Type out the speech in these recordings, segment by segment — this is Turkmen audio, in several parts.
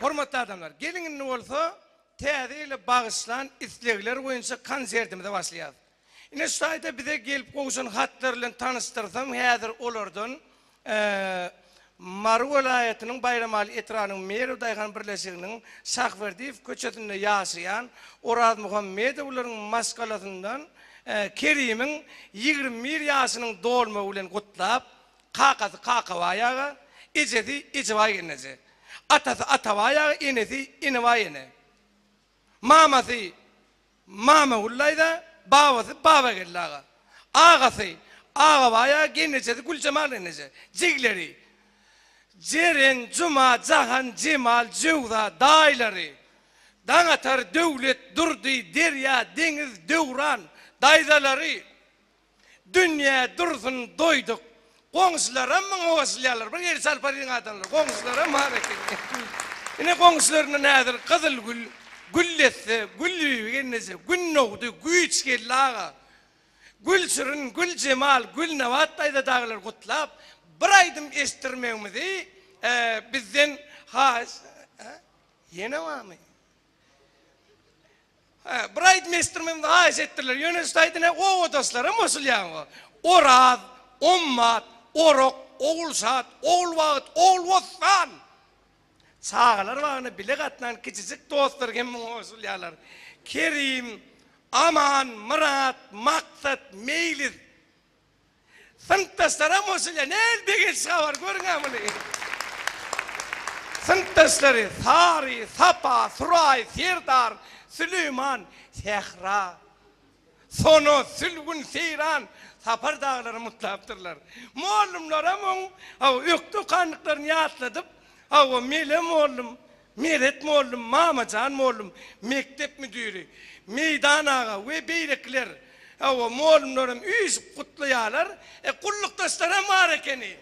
Hormatly adamlar, geliň indi bolsa Täze ýyla bagyşlan islegler boýunça konsertimize başlaýarys. Ine şu taýda bize gelip gowşan hatlar bilen tanyşdyrsam, häzir olardan Mary welaýatynyň Baýramaly etrabynyň Merw daýhan birleşiginiň Şahberdiýew köçesinde ýaşaýan Orazmuhammedowlaryň maşgalasyndan Kerimiň ýigrimi bir ýaşynyň dolmagy bilen gutlap, Kakasy Kakabaý aga, ejesi Ejebaý gelneje. Atasy Atabaý aga, enesi Enebaý ene. Mamasy Mamaguly daýza, babasy Babageldi aga. Agasy Agabaý aga, gelnejesi Güljemal gelneje. Jigleri, Jeren, Juma, Jahan, Jemal, Jöwza. Daýylary, Daňatar, Döwlet, Durdy, Derýa, Deňiz, Döwran. Daýzalary. Dünýä dursun doýduk. Goňşylaram muňa goşulýarlar. Bir ýeri çarpar diýiň adamlar. Goňşylaram bar ekeni. Ine goňşylaryndan häzir Gyzylgül, Güllesse, Gülbibi gelneje, Gün dogdy, Güýç geldi aga, Gülşirin, Güljemal, Gülnabat daýza dagylar gutlap, bir aýdym eşitdirmegiňizi bizden haýyş Ýene barmy? Hä, bir aýdym eşitdirim, hem haýyş etdirler. Ýöne şu aýdym hä obadaşlara goşulýaňyz. Oraz, Ommat, Orak, Ogulşat, Ogulbagyt, Ogulbossan. Çagalar bagyna bile gatnan kiçijik dostlar hem muňa goşulýarlar. Kerim, Aman, Myrat, Maksat, Meýlis. Synpdaşlaram hoş ile nel begenç habar görüňä muny. Synpdaşlary Sary, Sapa, Suraý, Serdar, Süleýman, Sähra, Sona, Sülgün, Seýran, Sapar daglary mutlapdyrlar. Mollumlaram oň hawa ökde okandyklaryny ýatladyp, hawa Mele mollum Meret mollum, Mamajan mollum, mekdep müdiri, Meýdan aga we beýlekiler, hawa, mollumlaram üýşüp gutlaýarlar, e, gullukdaşlaram bar ekeni.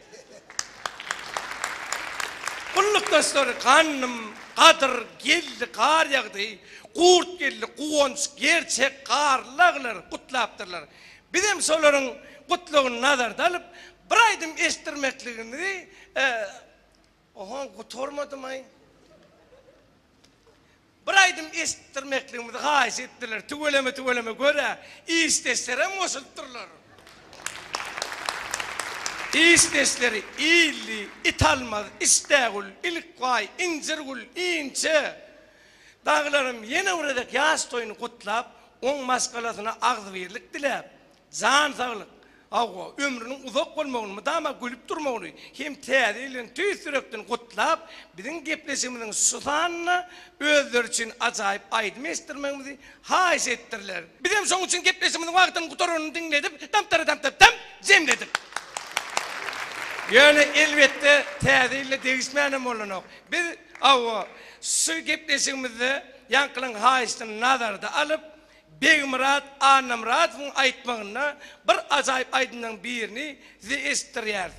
Gullukdaşlar, Gandym, Gadyr, Geldi, Gar ýagdy, Gurt geldi, Guwanç, Gerçek, Garly agylar gutlapdyrlar. Bizem şolaryň gutlagyny nazarda alyp, bir aýdym eşitdirmekligimizi Ohoň gutarmadymaý? Bir aýdym eşitdirmekligimizi haýyş etdiler. Tüweleme tüweleme gör-ä, işdeşlerem goşulypdyrlar. Işdeşleri, Illi, Italmaz, Işdägül, Ilkbaý, Injirgül, Inçe. Dagylarym ýene bir gezek ýaş toýuny gutlap, oň maşgalasyna agzybirlik diläp, Jan saglyk, hawa, ömrüniň uzak bolmagyny, mydama gülüp durmagyny hem Täze ýyl bilen tüýs ýürekden gutlap, biziň gepleşigimiziň şu sanynda özleri üçin ajaýyp aýdym eşitdirmegimizi haýyş etdirler. Bizem şoň üçin gepleşigimiziň wagtynyň gutaranyny diňledip, damtara-damtapdam jemledik. Ýöne, elbetde, Täze ýylda degişmänem bolanok. Biz, hawa, şu gepleşigimizde ýaňkylaryň haýyşyny nazarda alyp, Begmyrat Annamyradowyň aýtmagynda bir ajaýyp aýdymlaryň birini size eşitdirýäris.